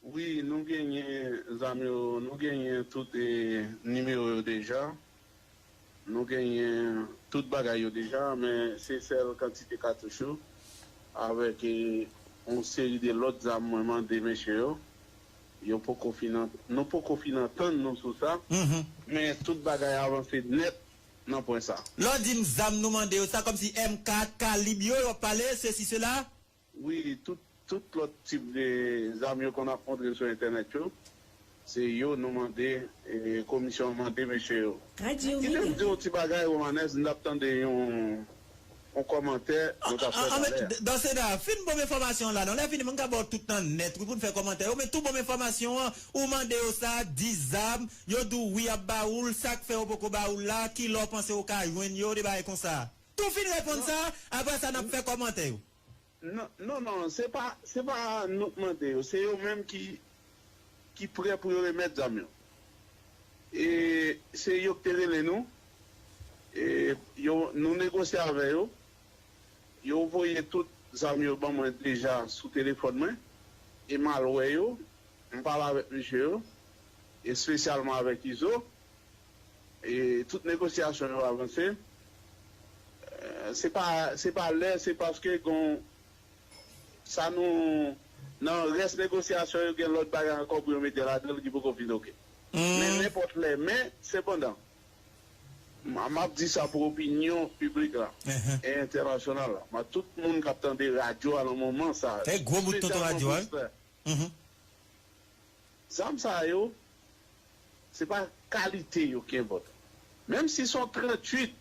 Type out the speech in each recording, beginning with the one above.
Wi nou genyen zam yo nou genyen tout nimewo yo deja nou genyen tout bagay yo deja men se sèl kantite katouch yo avèk yon seri de lòt zam mwen mande mesye yo yo poko fin nou poko fin antann nou sou sa men tout bagay avanse nèt nan pwen sa. Lè w di m zam nou mande yo sa kòmsi MK kalib yo wap pale sesi sela? Wi tout tout lòt tip de zam yo konn ap montre sou entènèt yo se yo nou mande komisyon an mande mesye yo. Kite m di w yon ti bagay Romanès m t ap tande yon yon kòmantè nou t ap fè talè a. Dans ce cas fin bon m enfòmasyon an la non lè fini mwen ka ba w tout tan nèt wi pou n fè kòmantè yo men tou bon m enfòmasyon an ou mande yo sa 10 zam yo di w wi y ap ba ou l sa k fè yo poko ba ou l la ki lè w panse ou ka jwenn yo de bagay konsa. Tou fin reponn sa, aprè sa nap fè kòmantè yo. Non non non se pa se pa nou k mande yo se yo menm ki ki prè pou yo remèt zam yo e se yo k te rele nou e yo nou negosye avè yo yo voye tout zam yo ban mwen deja sou telefòn mwen e m al wè yo m pale avèk mesye yo espesyalman avèk izo. E tout negosyasyon yo avanse. Se pa se pa lè se paske gon sa nou nan rès negosyasyon yo gen lòt bagay ankò pou yo mete ladan l ki poko fin ok. Men nenpòt lè men sepandan m ap di sa pou opinyon piblik la e entènasyonal la ma tout moun k ap tande radyo a nan moman sa espesyalman pou stè Zam sa yo, se pa kalite yo ki enpòtan. Menm si se yon 38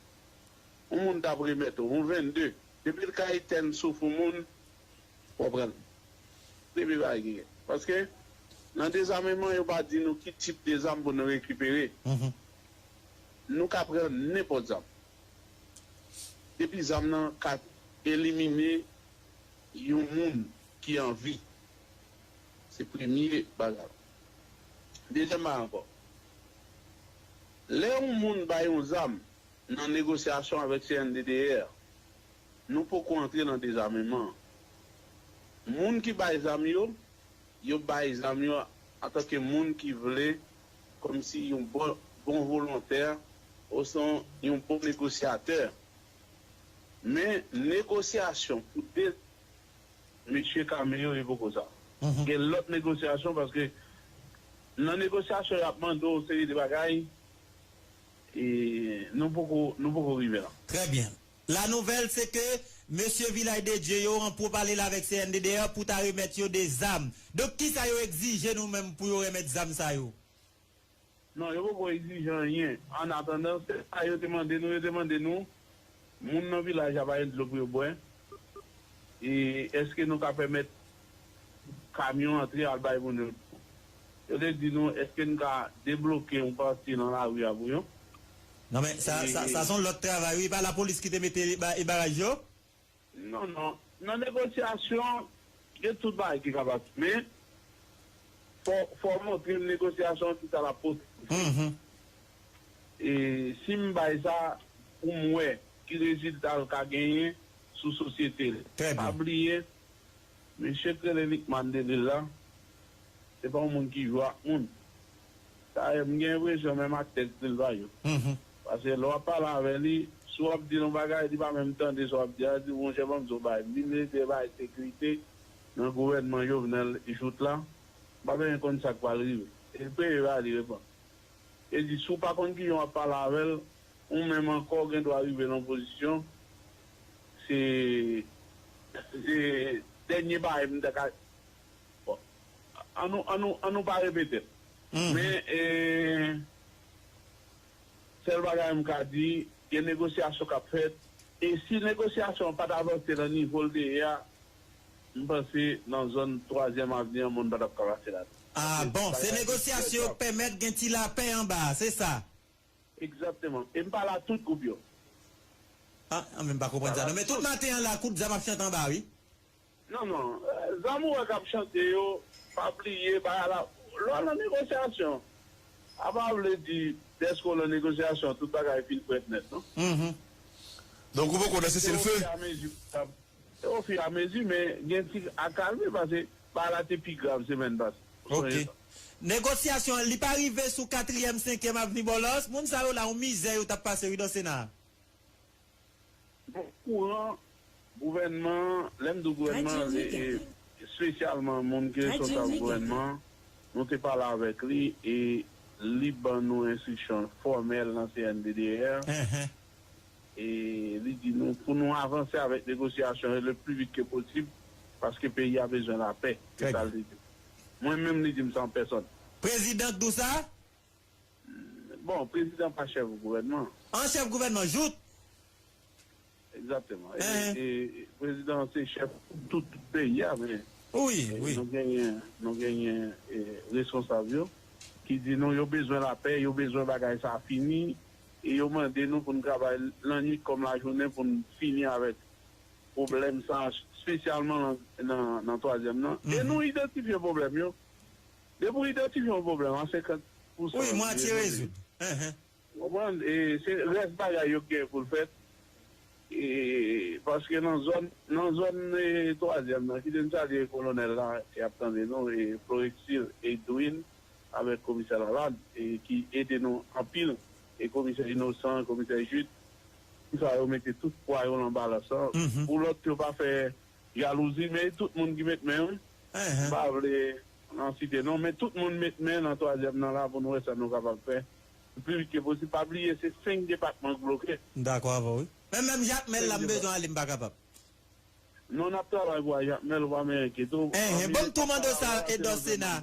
yon moun t ap remèt ou, yon 22, depi l ka etèn souf yon moun, w ap pran l. Depi l pa gen kè. Paske, nan dezameman, yo pa di nou ki tip de zam pou nou rekipere. Nou ka pran nenpòt zam. Depi zam nan ka elimine yon moun ki an vi. Se premye bagay la. Dezyèm bagay ankò, lè yon moun bay yon zam nan negosyasyon avèk CNDDR, nou poko antre nan dezameman an. Moun ki bay zam yo, yo bay zam yo antanke moun ki vle kòmsi yon bon volontè osnon yon bon negosyatè. Men negosyasyon pou. Mesye kame yo e poko sa. Gen lòt negosyasyon paske nan negosyasyon yo ap mande w yon seri de bagay e nou poko nou poko rive la. Trè byen. La nouvèl se ke mesye Vilay de Dye yo an pwopalel avèk CNDDR pou ta remèt yo de zam. Donk kisa yo egzije nou menm pou yo remèt zam sa yo? Non, yo poko egzije anyen. An atandan, se sa yo te mande nou. Yo te mande nou, moun nan vilaj la pa gen dlo pou yo bwè, e èske nou ka pèmèt kamyon antre al bay moun yo dlo? Yo te di nou, èske n ka debloke yon pati nan lari a pou yo? Non men, sa, sa, sa se yon lòt travay wi. E pa lapolis ki te mete baraj yo? Non non, nan negosyasyon gen tout bagay ki kapab men fò fò w montre m negosyasyon an kisa l ap pote pou fini. E si m bay sa pou m wè ki rezilta l ka genyen sou sosyete l. Pa bliye mesye k rele Lickman Delil la se pa yon moun ki jwe ak moun. Dayè m gen enpresyon menm ak tèks li l pa yo. Pase lè w ap pale avè li, si w ap di l yon bagay li pa menm tande sa w ap di a, li di w monchè ban m di w yon bagay, Minis dwe bay sekirite nan gouvènman Jovenel jout la, m pa bezwen konn sa k pral rive. E l peye va li reponn. E di si w pa konn kijan w ap pale avè l, ou menm ankò w gen dwa rive nan yon pozisyon, se dènye bagay m ta ka. An nou an nou an nou pa repete men e sèl bagay m ka di gen negosyasyon k ap fèt e si negosyasyon an pa t avanse nan nivo l te ye a m panse nan zòn twazyèm avni an moun pa t ap ka pase ladan l a koz bagay ki trè grav. Pèmèt gen ti lapè anba a se sa. Egzakteman e m pa la tout gwoup yo. An men m pa konprann sa non men tout maten an la kout zam ap chante anba a wi. Non non Zamora kap chante yo pa bliye bagay la lwa nan negosyasyon a pa vle di dèske w nan negosyasyon tout bagay fin frèt nèt non. Uhmm donk ou poko nan sese l few. Se o fi a mezi men gen ti akalme pase bagay la te pi grav semèn pase ou sonje sa. Negosyasyon an li pa rive sou katriyèm senkyèm avni bòlòs moun sa yo la yon mizè yo tap pase wi dan sena a. Bon kouran gouvènman an, lè m di w gouvènman an se espesyalman moun ki responsab gouvènman an, nou te pale avèk li e li ban nou enstriksyon fòmèl nan CNDDR e li di nou pou nou avanse avèk negosyasyon yo le pli vit ke posib paske peyi a bezwen lapè, se sa l te di m. Mwen menm li di m san pèsòn. Prezidan k di w sa? Bon, prezidan pa chèf gouvènman. An chèf gouvènman jout. Egzateman. E prezidan an se chèf tout peyi a men. Wi, wi. Nou genyen, nou genyen responsab yo ki di nou yo bezwen lapè, yo bezwen bagay sa a fini e yo mande nou pou nou travay lannwit kòm lajounen pou nou fini avèk pwoblèm sa a, spesyalman nan twazyèm nan. E nou idantifye pwoblèm yo. Depi ou idantifye yon pwoblèm a 50 pousan Wi, mwatye rezoud. Ou konprann? E se rès bagay yo ki gen pou l fèt. E paske nan zòn nan zòn twazyèm nan kite n salye kolonèl la ki ap tande nou e Floreksil Edwin avèk komisè Lalande e ki ede nou anpil e komisè Inosan, komisè Jid. Sa yo mete tout pwa yo lan balans lan pou lòt yo pa fè. Jalouzi mey tout moun ki met men wi. M pa vle nan site non men tout moun met men nan twazyèm nan la pou nou wè sa nou kapab fè pli vit ke posib. Pa bliye se 5 depatman k bloke. M dakò avè w wi. Men menm Jakmèl la m bezwen ale m pa kapab. Non nap travay pou a Jakmèl ou pa men enkyete w. Enhen bon m tou mande w sa Edò Sena.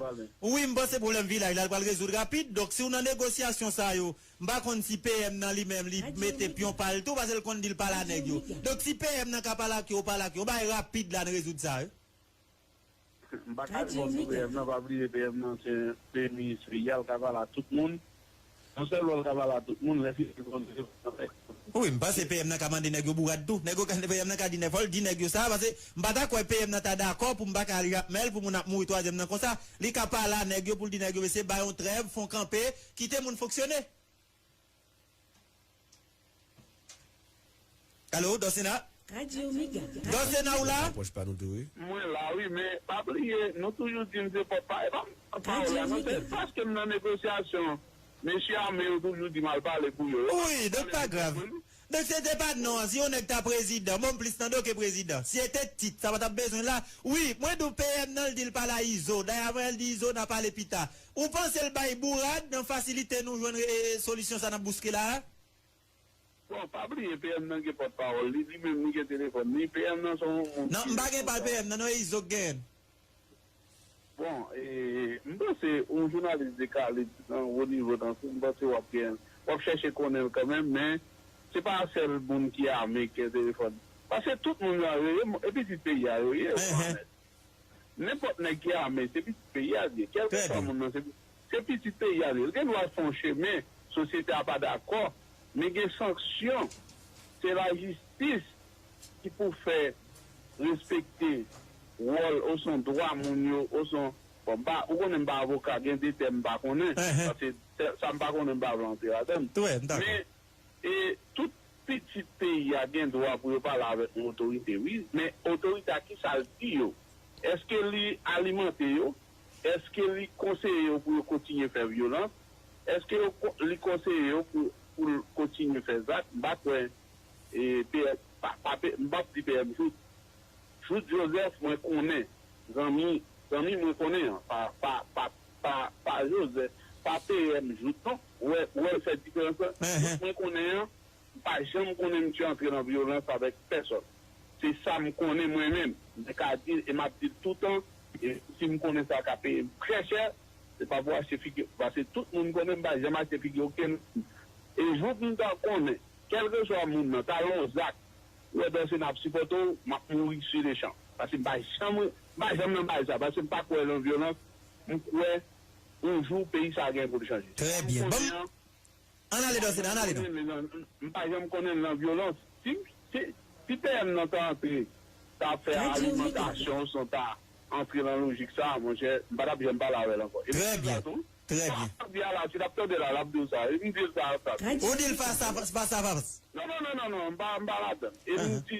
Wi m panse pwoblèm vilaj la l pral rezoud rapid donk si w nan negosyasyon sa yo M pa konn si PM nan li menm li mete pyon pa l tou pase l konn di l pale a nèg yo. Donk si PM nan ka pale ak yo, pale ak yo. Yon bagay rapid la n rezoud sa wi. M pa ka repon pou PM nan, pa bliye PM nan se premye minis peyi a, l ka pale a tout moun. Yon sèl lwa l ka pale a tout moun, lè fini l konn di l pale ak yo. Wi, m panse PM nan ka mande nèg yo bourad tou. Nèg yo ka, PM nan ka di nèg, fò l di nèg yo sa pase m pa ta kwè PM nan ta dakò pou m pa ka li ak mèl pou moun ap mouri twazyèm nan konsa. Li ka pale a nèg yo pou l di nèg yo mesye bay yon trèv, fon kanpe Kite moun fonksyone. Allo Dorcena? Radio mega. Dorcena ou la? Nan pòch pa nou tou wi. Mwen la wi men pa bliye nou toujou dim se pòp pa epa m pa w la non se jis paske m nan negosyasyon mesye ame yo toujou dim al pale pou yo yo pa konn pale pou tèt mwen non. Mesye se pa non an si yon nèg ta prezidan bon plis nan do ke prezidan si e te tit sa patap bezwen la wi mwen di w PM nan l di l pale a izo dayè avan yè l di izo na pale pita ou panse l bay bourad nan fasilite nou jwenn e solisyon sa nap bouske la a. Bon pa bliye PM nan gen pòt pawòl li li menm li gen telefòn li PM nan se yon moun ki responsab. Non m pa gen pal PM nan non e izo k genyen l. Bon, m panse yon jounalis de kalib nan wo nivo tankou w, m panse w ap gen, w ap chèche konnen l kanmenm, men se pa sèl moun ki ame ki entèfòn. Paske tout moun yo yo ye, e pitit peyi a yo ye, ou konprann? Nenpòt nèg ki ame, se pitit peyi a l ye. Kèlkeswa moun nan, se pitit. Se pitit peyi a li ye. Li gen dwa fè yon chemen sosyete a pa dakò, men gen sanksyon. Se lajistis ki pou fè respekte wòl osnon dwa moun yo osnon, bon m pa, ou konnen m pa avoka, gen de tèm m pa konnen, pase sa m pa konnen m pa vle antre ladan l. Men, tout pitit peyi a gen dwa pou yo pale avèk yon otorite wi, men otorite a kisa l di yo? Eske li alimante yo? Èske li konseye yo pou yo kontinye fè vyolans? Èske yo li konseye yo pou pou l kontinye fè zak? M pa kwè e PM pa pa p m pap di PM jout jout Joseph mwen konnen zanmi zanmi mwen konnen an pa pa pa pa pa Joseph pa PM jout non ou wè ou wè l fè diferans lan jout mwen konnen an M pa janm konnen misye antre nan vyolans avèk pèsòn. Se sa m konnen mwen menm. Mwen ka di l e m ap di l toutan e si m konnen sa ka peye m trè chè, se pa pou achte figi m. Pase tout moun konnen m pa janm achte figi okenn moun. E jou m ta konnen kèlkeswa moun nan ta lon zak pou wè Dorcéna ap sipòte w, m ap mouri si le chan. Pase m pa janm m pa janm nan bagay sa. Pase m pa kwè lan vyolans. M kwè yon jou peyi sa gen pou l chanje. Trè byen. Ban m Ann ale danse nan, ann ale nan. M pa janm konnen nan vyolans. Si PM nan ta antre, ta fè alimantasyon son ta antre nan lojik sa a, monchè, m pa t ap janm pale avè l ankò. Epi m di sa tou. Trè byen. Sa m ap di a la, si l ap tande l a, l ap di w sa. Epi m di l sa a. Ou di l pa sa, pa sa. Non, non, non, non, non, m pa ladan l. Epi m di.